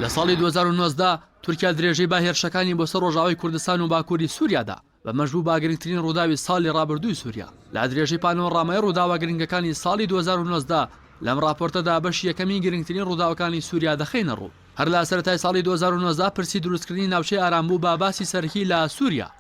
لە ساڵی دوو هەزار و نۆزدە تورکیا درێژەی بە هێرشەکانی بۆ سەر ڕۆژاوای کوردستان و باکووری سووریادا بەمەش بوو باگرنگترین ڕووداوی ساڵی ڕابردووی سووریا لا درێژەی پانۆڕامای ڕووداوە گرنگەکانی ساڵی 2009دا لەم ڕاپۆرتەدا بەشی یەکەمی گرنگترین ڕووداوەکانی سووریا دەخینە ڕوو هەر لە سەرەتای ساڵی 2009دا پرسی دروستکردنی ناوچەی ئارام بوو بە باسی سەرەکی لە سووریا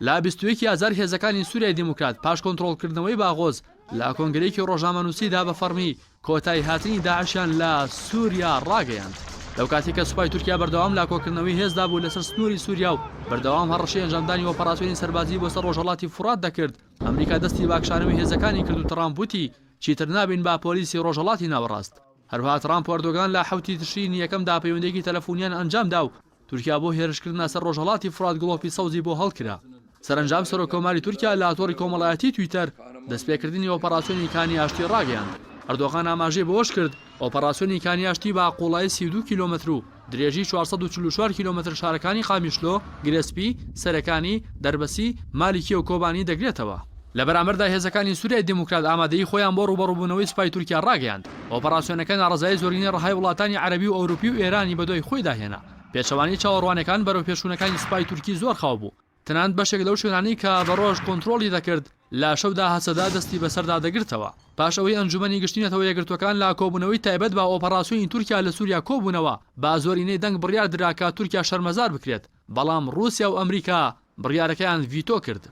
لە بیست و یەکی ئازار هێزەکانی سووریای دیموکرات پاش کۆنترۆڵکردنەوەی باغۆز لە کۆنگرەیەکی ڕۆژنامەنووسیدا بە فەڕمی کۆتایی هاتنی داعشیان لە سووریا ڕاگەیاند. لەو کاتی کە سوپای تورکیا بەردەوام لا کۆکردنەوەی هێزدا بوو لەسەر سنووری سووریا و بەردەوام هەڕەشەی ئەنجامدانی ئۆپەراسیۆنی سەربازی بۆ سەر ڕۆژهەڵاتی فورات دەکرد ئەمریکا دەستی باکشانەوەی هێزەکانی کرد و ترامپ وتی چیتر نابین بە پۆلیسی ڕۆژهەڵاتی ناوەڕاست هەروەها ترامپ و ئەردۆگان لە حەوتی تشرینی یەکەم دا پەیوەندییەکی تەلەفونییان ئەنجام دا و تورکیا بۆ هێرشکردنە سەر ڕۆژهەڵاتی فورات گڵۆپی سەوزی بۆ هەڵکرا. سەرەنجام سەرۆککۆماری تورکیا لە تۆڕی کۆمەڵایەتیی تویتەر دەستپێکردنی ئۆپەڕاسیۆنی کانی ئاشتی ڕاگەیاند. ئەردۆغان ئاماژەی بەوەش کرد، ئۆپەڕاسیۆنی کانی ئاشتی بە قووڵایی سی و دوو کیلۆمەتر و درێژی چوار سەد و چل و چوار کیلۆمەتر شارەکانی قامیشلۆ، گرێسپی، سەرەکانی، دەربەسی، مالیکیە و کۆبانی دەگرێتەوە. لە بەرامبەردا هێزەکانی سوریای دیموکرات ئامادەیی خۆیان بۆ ڕووبەڕووبوونەوەی سوپای تورکیا ڕاگەیاند. ئۆپەراسیۆنەکە ناڕەزایی زۆرینەی ڕەهای وڵاتانی عەرەبی و ئەوروپی و ئێرانی بەدوای خۆیدا هێنا. پێچەوانەی چاوەڕوانەکان، بەرەوپێشچوونەکانی سوپای تورکی زۆر خاو بوو. تەنانەت بەشێک لەو شوێنانەی کە بە ڕۆژ کۆنترۆڵی دەکرد، لە شەودا هەسەدە دەستی بەسەردا دەگرتەوە. پاش ئەوەی ئەنجوومەنی گشتی نەتەوە یەکگرتووەکان لە کۆبوونەوەی تایبەت بە ئۆپەڕاسیۆنی تورکیا لە سووریا کۆبوونەوە، بە زۆرینەی دەنگ بڕیار درا کە تورکیا شەرمەزار بکرێت، بەڵام ڕووسیا و ئەمریکا بڕیارەکەیان ڤیتۆ کرد.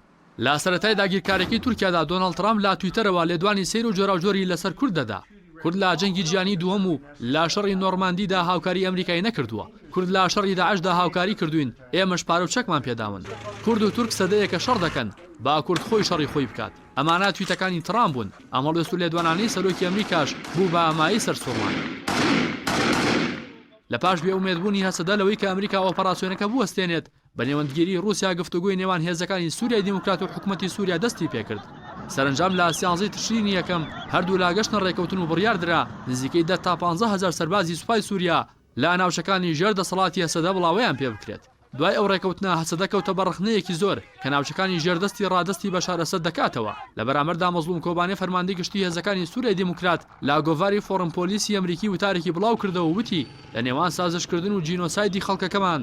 لە سەرەتای داگیرکارییەکەی تورکیادا، دۆناڵد ترامپ لە تویتەرەوە لێدوانی سەیر و جۆراوجۆری لەسەر کورد دەدا. کورد لە جەنگی جیهانی دووەم و لە شەڕی نۆڕماندیدا هاوکاری ئەمریکای نەکردووە، کورد لە شەڕی داعشدا هاوکاری کردووین، ئێمەش پارە و چەکمان پێداون. کورد و تورک سەدەیەکە شەڕ دەکەن، با کورد خۆی شەڕی خۆی بکات. ئەمانە تویتەکانی تڕامپ بوون، ئەم هەڵوێست و لێدوانانەی سەرۆکی ئەمریکاش بوو بە مایەی سەرسوڕمان. لە پاش بێ ئومێدبوونی هەسەدە لەوەی کە ئەمریکا ئۆپەڕاسیۆنەکە بوەستێنێت، بە نێوەندگیری ڕووسیا گفتوگۆی نێوان هێزەکانی سووریای دیموکرات و حکومەتی سووریا دەستی پێ کرد. سەرەنجام لە سیانزەی تشرینی یەکەم هەردوو لا گەشتنە ڕێککەوتن و بڕیار درا نزیکەی دە تا پانزە هەزار سەربازی سوپای سووریا لە ناوچەکانی ژێر دەسەڵاتی هەسەدە بڵاوەیان پێ بکرێت. دوای ئەو ڕێککەوتنە هەسەدە کەوتە بە ڕەخنەیەکی زۆر کە ناوچەکانی ژێر دەستی ڕادەستی بەشار ئەسەد دەکاتەوە. لە بەرامبەردا مەزڵوم کۆبانێ فەرماندەی گشتی هێزەکانی سووریای دیموکرات لە گۆڤاری فۆڕم پۆلیسی ئەمریکی وتارێکی بڵاو کردەوە و وتی لە نێوان سازشکردن و جینۆسایدی خەڵکەکەمان،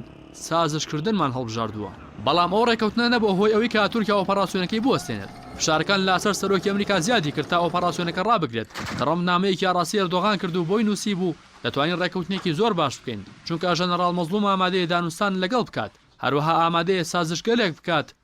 سازشکردنمان هەڵبژاردووە، بەڵام ئەو ڕێککەوتنە نەبووە هۆی ئەوەی کە تورکیا ئۆپەڕاسیۆنەکەی بوەستێنێت، فشارەکان لاسەر سەرۆکی ئەمریکا زیادی کرد تا ئۆپەڕاسیۆنەکە ڕابگرێت، ترەمپ نامەیەکی ئاڕاستەی ئەردۆغان کرد و بۆی نووسیبوو، دەتوانین ڕێککەوتنێکی زۆر باش بکەین، چونکە ژەنەڕاڵ مەزڵوم ئامادەیە دانوستان لەگەڵ بکات، هەروەها ئامادەیە سازشگەلێک بکات،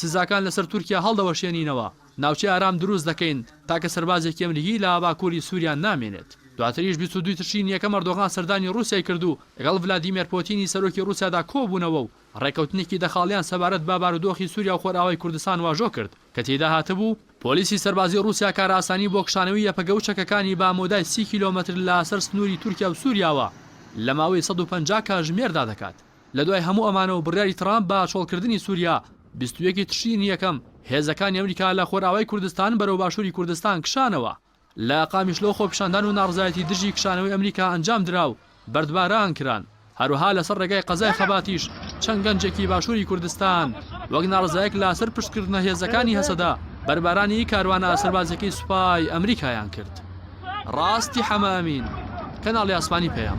سزاکان لەسەر تورکیا هەڵدەوەشێنینەوە، ناوچەی ئارام دروست دەکەین، تاکە سەربازێکی ئەمریکی لە باکووری سووریا نامێنێت. دواتریش بیست و دوو تشرینی یەکەم ئەردۆغان سەردانی ڕووسیای کرد و لەگەڵ ڤلادیمێر پۆتینی سەرۆکی ڕووسیادا کۆبوونەوە و ڕێککەوتنێکی دەخاڵیان سەبارەت بە بارودۆخی سووریا و خۆرئاوای کوردستان واژۆ کرد کە تێیدا هاتبوو، پۆلیسی سەربازی ڕووسیا کارئاسانی بۆ کشانەوەی یەپەگە و چەکەکانی بە مەودای سی کیلۆمەتر لە سەر سنووری تورکیا و سووریاوە لە ماوەی سەد و پەنجا کاژمێردا دەکات. لە دوای هەموو ئەمانە و بڕیاری تڕامپ بە چۆڵکردنی سووریا، بیست و یەک ی تشرینی یەکەم هێزەکانی ئەمریکا لە خۆرئاوای کوردستان بەرەو باشووری کوردستان کشانەوە. لە قامیشلۆ خۆپیشاندان و ناڕزایەتی دژی کشانەوەی ئەمریکا ئەنجام درا و بەردباران کران. هەروەها لەسەر ڕێگای قەزای خەباتیش چەند گەنجێکی باشووری کوردستان وەک ناڕزایەک لە سەر پشتکردنە هێزەکانی هەسەدە بەربارانی کاروانە سەربازیەکەی سوپای ئەمریکایان کرد. ڕاستی حەمامین کەناڵی ئاسمانی پەیام.